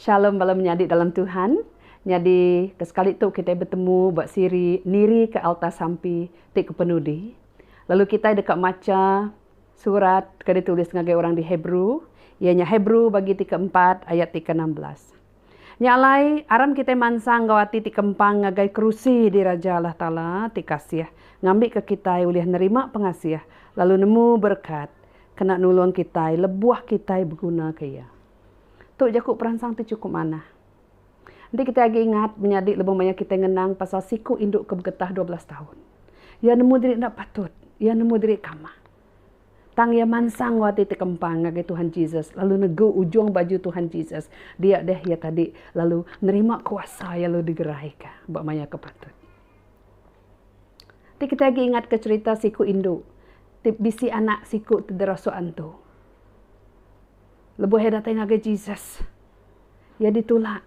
Shalom bala menyadi dalam Tuhan. Nyadi ke sekali tu kitai betemu ba siri nirika alta sampi ti ke penudi. Lalu kitai deka macha surat ke ditulis ngagai orang di Hebrew, iya nya Hebrew bagi ti keempat ayat ti ke enam belas. Nya alai, aram kitai mansang enggau ati ti kempang ngagai kerusi diraja Allah Taala ti kasih, ngambika kitai ulih nerima pengasih lalu nemu berekat kena nulung kitai lebuh kitai begunaka iya. Tu jaku peransang ti chukup manah. Enti kitai agi ingat, menyadi lebuh maya kitai ngenang pasal siku indu ke begetah dua belas taun. Iya nemu diri enda patut. Iya nemu diri kamah. Tang iya mansang enggau ati ti kempang ngagai Tuhan Jesus lalu negu ujung baju Tuhan Jesus. Dia deh iya tadi lalu nerima kuasa iya lalu digeraika ba maya ke patut. Ti kitai agi ingatka cherita siku indu ti bisi anak siku ti derasuk antu. Lebuh iya datai ngagai Jesus, iya ditulak.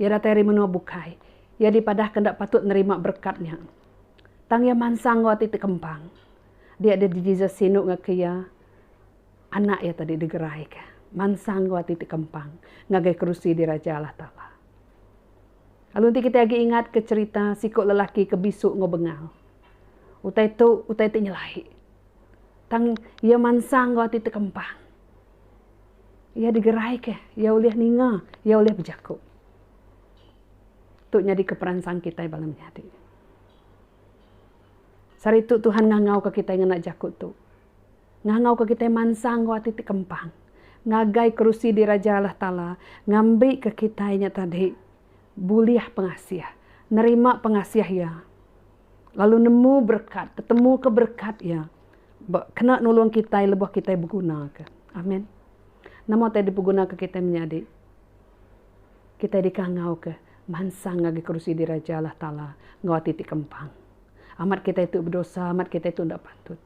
Iya datai ari menua bukai. Iya dipadahka enda patut nerima berekat nya. Tang iya mansang enggau ati ti kempang. Dia deh Jesus sinu ngaki iya, Anak iya tadi digerai ka mansang enggau ati ti kempang ngagai kerusi diraja Allah Taala. Lalu enti kitai agi ingat ka cherita siku lelaki ke bisu enggau bengal. Utai tu utai ti nyelai. Tang iya mansang enggau ati ti kempang. Iya digerai ka, iya ulih ninga, iya ulih bejaku. Tu nyadi ka peransang kitai bala menyadi. Saritu Tuhan ngangauka kitai ngena jaku tu. Ngangauka kitai mansang enggau ati ti kempang. Ngagai kerusi diraja Allah Taala ngambika kitai nya tadi bulih pengasih, nerima pengasih Iya, lalu nemu berekat, tetemuka berekat Iya ba kena nulung kitai lebuh kitai begunaka. Amen. Nama utai dipegunaka kitai menyadi? Kitai dikangauka mansang ngagai kerusi diraja Allah Taala enggau ati ti kempang. Amat kitai tu bedosa, amat kitai tu enda patut.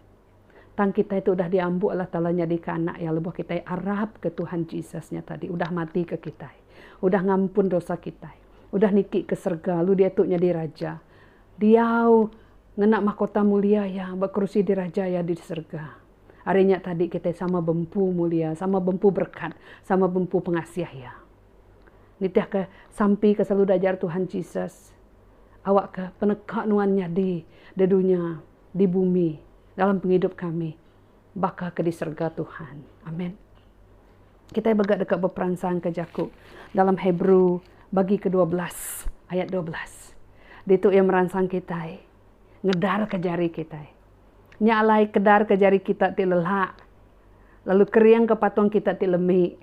Tang kitai tu udah diambu Allah Taala nyadika anak Iya lebuh kitai arapka Tuhan Jesus nya tadi udah matika kitai, udah ngampun dosa kitai, udah niti ke serega lalu diatu nyadi Raja diau ngena mahkota mulia Iya ba kerusi diraja Iya di serega. Ari nya tadi kitai sama bempu mulia, sama bempu berekat, sama bempu pengasih Iya. Nitihka sampi ke selalu diajar Tuhan Jesus, awakka peneka nuan nyadi di dunya, di bumi, dalam pengidup kami baka ke di serega Tuhan. Amen. Kitai mega deka beperansangka jaku dalam Hebrew bagi ke dua belas ayat dua belas. Ditu iya meransang kitai ngedarka jari kitai. Nya alai kedarka jari kita ti lelak lalu keringka patung kita ti lemi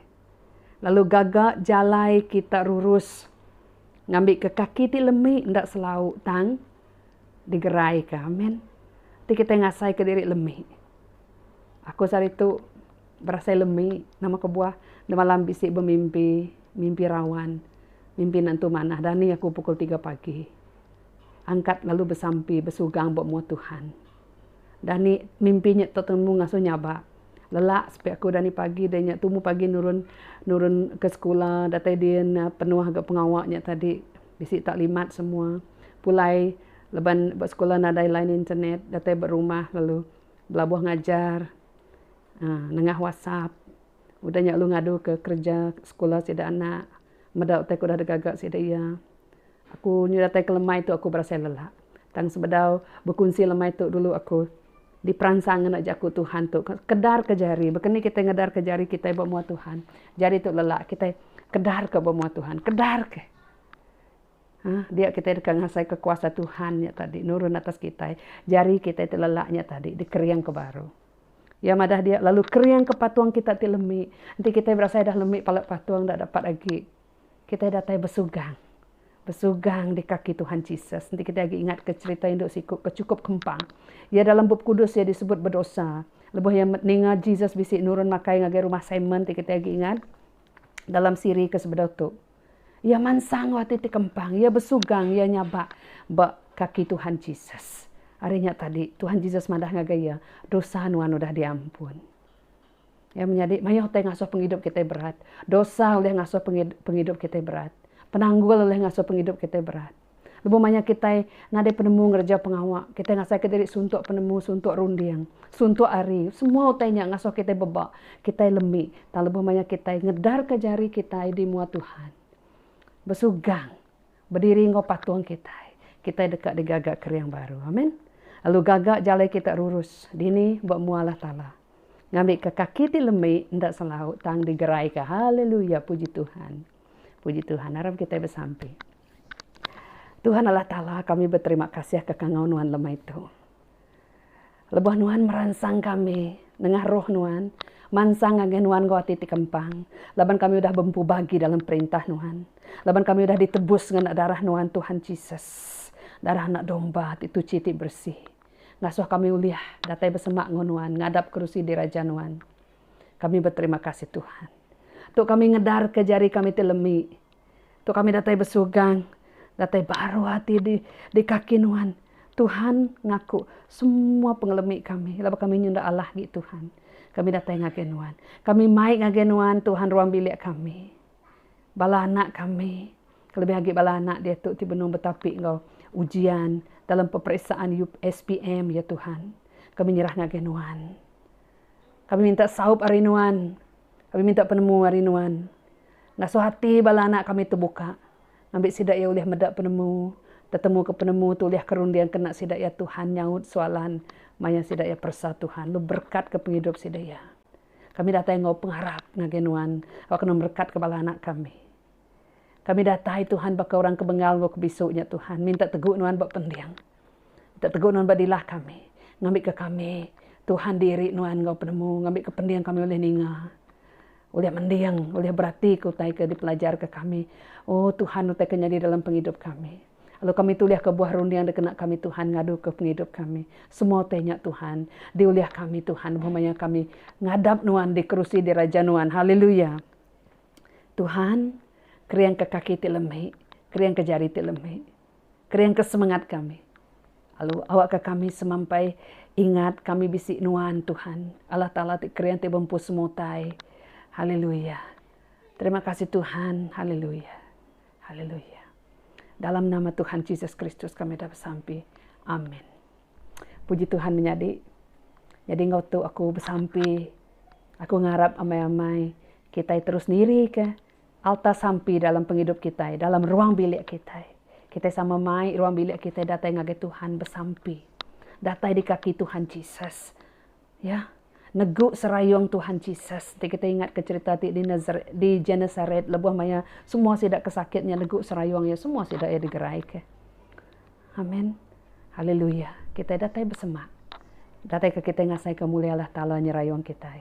lalu gaga jalai kita rurus ngambika kaki ti lemi enda selau tang digeraika. Amen. Ti kitai ngasaika diri lemi. Aku saritu berasai lemi nama kebuah nemalam bisi bemimpi, mimpi rawan, mimpi nentu manah dani aku pukul tiga pagi angkat lalu besampi besugang ba mua Tuhan. Dani mimpi nya tetemu ngasuh nya ba lelak sepi aku dani pagi deh nya tumu pagi nurun nurun ke sekula datai din penuh ga pengawa nya tadi bisi tak limat semua pulai leban ba sekula nadai line internet datai ba rumah lalu belabuh ngajar aaa nengah whatsapp udah nya lalu ngadu ke kerja sekula sida anak meda utai ke udah digaga sida iya. Aku nyurataika lemai tu aku berasai lelah. Tang sebedau bekunsi lemai tu dulu aku diperansang ngena jaku Tuhan tu. Kedarka jari. Baka ni kitai ngedarka jari kitai ba mua Tuhan. Jari tu lelah kitai kedarka ba mua Tuhan. Kedarka. Haa dia kitai deka ngasaika kuasa Tuhan nya tadi nurun atas kitai. Jari kitai ti lelah nya tadi dikeringka baru. Iya madah dia lalu keringka patung kita ti lemi. Enti kitai berasai dah lemi pala patung enda dapat agi. Kitai datai besugang, besugang di kaki Tuhan Jesus. Enti kitai agi ingatka cherita indu siku ke chukup kempang. Iya dalam Bup Kudus iya disebut bedosa. Lebuh iya ninga Jesus bisi nurun makai ngagai rumah Simon ti kitai agi ingat dalam siri ke sebedau tu. Iya mansang enggau ati ti kempang. Iya besugang, iya nyabak ba kaki Tuhan Jesus. Ari nya tadi, Tuhan Jesus madah ngagai iya, Dosa nuan udah diampun. Iya menyadi mayuh ti ngasuh pengidup kitai berat. Dosa ulih ngasuh pengidup kitai berat. Penanggul ulih ngasuh pengidup kitai berat. Lebuh maya kitai nadai penemu ngereja pengawa, kitai ngasaka diri suntuk penemu, suntuk runding, suntuk hari. Semua utai nya ngasuh kitai beba, kitai lemi. Tang lebuh maya kitai ngedarka jari kitai di mua Tuhan, besugang Bediri enggau patung kitai, kitai deka digaga kering baru. Amin. Lalu gaga jalai kita rurus dini ba mua Allah Taala. Ngambika kaki ti lembi enda selau tang digeraika. Haleluya. Puji Tuhan. Puji Tuhan. Aram kitai besampi. Tuhan Allah Taala kami beterima kasih ka kangau nuan lemai tu. Lebuh nuan meransang kami nengah roh nuan, mansang ngagai nuan enggau ati ti kempang, laban kami udah bempu bagi dalam perintah nuan. Laban kami udah ditebus ngena darah nuan Tuhan Jesus, darah anak domba ti tuchi ti bersih. Ngasuh kami ulih datai besemak enggau nuan ngadap kerusi diraja nuan. Kami beterima kasih Tuhan. Tu kami ngedarka jari kami ti lemi. Tu kami datai besugang, datai baruh ati di di kaki Nuhan. Tuhan ngaku semua pengelemi kami laban kami nyenda alah agi Tuhan. Kami datai ngagai Nuhan. Kami mai ngagai Nuhan, Tuhan ruang bilik kami. Bala anak kami, kelebih agi bala anak diatu ti benung betapi enggau ujian dalam peperiksaan UPSPM, ya Tuhan. Kami nyerah ngagai Nuhan. Kami minta saup ari Nuhan. Kami minta penemu ari Nuhan. Ngasuh ati bala anak kami tu buka ngambi sida iya ulih meda penemu, tetemu ke penemu tu ulih ke runding ke enda sida iya Tuhan nyaut soalan maya sida iya peresa Tuhan lu berekat ke pengidup sida iya. Kami datai enggau pengarap ngagai nuan awak kena merekat ke bala anak kami. Kami datai Tuhan baka orang ke bengal enggau ke bisu nya Tuhan minta tegu nuan ba pending. Minta tegu nuan ba dilah kami ngambi ke kami Tuhan diri nuan enggau penemu ngambi ke pending kami ulih ninga Ulih mending, ulih beratika utai ke dipelajarka kami. O Tuhan, utai ke nyadi dalam pengidup kami. Lalu kami tulihka buah runding dikena kami, Tuhan, ngaduka pengidup kami. Semua utai nya, Tuhan, diulih kami, Tuhan, lebuh maya kami ngadap Nuan di kerusi diraja Nuan. Haleluya! Tuhan, keringka kaki ti lemi, keringka jari ti lemi. Keringka semengat kami, lalu awakka kami semampai ingat kami bisi nuan Tuhan, Allah Taala ti kering ti bempu semua utai. Haleluya. Terima kasih Tuhan. Haleluya. Haleluya. Dalam nama Tuhan Jesus Kristus kami dah besampi. Amin. Puji Tuhan menyadi. Jadi enggau tu aku besampi. Aku ngarap amai-amai kitai terus nirika Alta sampi dalam pengidup kitai, dalam ruang bilik kitai. Kitai sama mai ruang bilik kitai datai ngagai Tuhan besampi. Datai di kaki Tuhan Jesus. Ya. Negu serayung Tuhan Jesus. Enti kitai ingatka cherita ti di Nazaret, di Genesaret lebuh maya semua sida ke sakit nya negu serayung iya, semua sida iya digeraika. Amen. Haleluya. Kitai datai besemak. Dataika kitai ngasaika mulia Allah Taala nyerayung kitai.